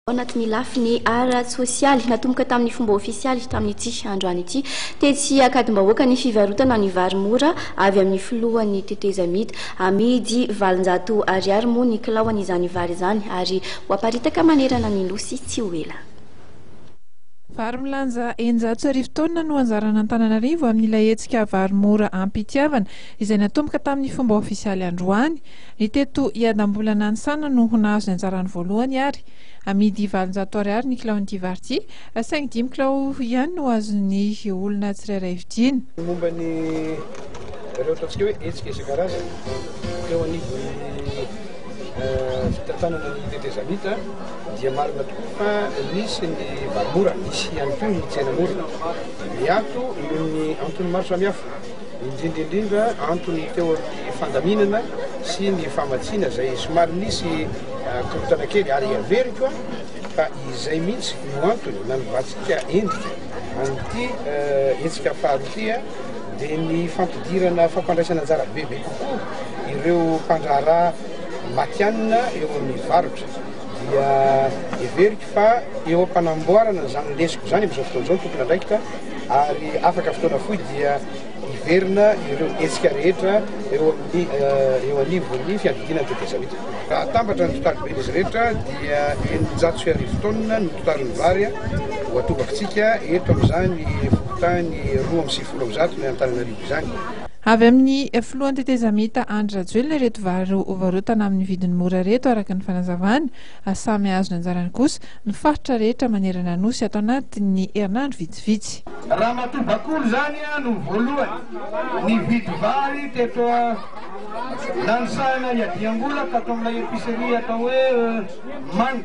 Ao anatin'ny lafiny ara-tsosialy, natomboka tamin'ny fomba ofisialy tamin'ity androany ity, tetsy Ankadimbahoaka, ny fivarotana ny vary mora avy amin'ny filohan'ny tetezamita. Amidy valonjato ariary moa ny kilaon'izany vary izany ary ho aparitaka manerana ny Nosy tsy ho ela. Vary milanja eninjato sy arivo taonina no anjaran'Antananarivo amin'ilay hetsika Vary mora am-pitiavana, izay natomboka tamin'ny fomba ofisialy androany. Ny teto Iadambolana any Sana no ho nahazo ny anjarany voalohany ary amidy valonjato ariary ny kilaon'ity vary ity, saingy dimy kilao ihany no azon'ny olona tsirairay vidiana. Ny momba ny ireo ataontsika hoe hetsika isan-karazany teo anivon'ny fitantanana ny tetezamita dia marina tokoa fa nisy ny vary mora, nisy ihany koa ny tsena mora miato noho ny antony maro samihafa. indrindra indrindra antony teo amin'ny fandaminana sy ny famatsiana izay somary nisy korontana kely ary averiko fa izay mihitsy no antony nanovatsika endrika an'ity hetsika faharoa ity dia ny fampidirana fampandraisana anjara bebe kokoa ireo mpandraharaha matianina eo amin'ny varotra dia heveriko fa eo am-panamboarana izany lesiko izany amin'izao fotoana izao ny tomponandraikitra ary afaka fotoana fohy dia hiverina ireo hetsika rehetra eo amin'ny eo anivon'ny fiadidiana ny tetezamita. Raha atambatra ny totaliben'izy rehetra dia eninjato sy arivo taonina no totalin'ny vary ho atobakitsika eto amin'izany fokontany roa amby sivifolo amby zato ny Antananarivo izany. Avy amin'ny filohan'ny tetezamita Andry Rajoelina ireto vary ho varotana amin'ny vidiny mora ireto araka ny fanazavany. ary samy hahazo ny anjarany kosa ny faritra rehetra manerana Anosy ato anatin'ny herinandro vitsivitsy. Ramatoa Bakolo izany no voalohany nividy vary teto Nanisahana hiadiam-bola tato amin'ilay epicerie atao hoe Many.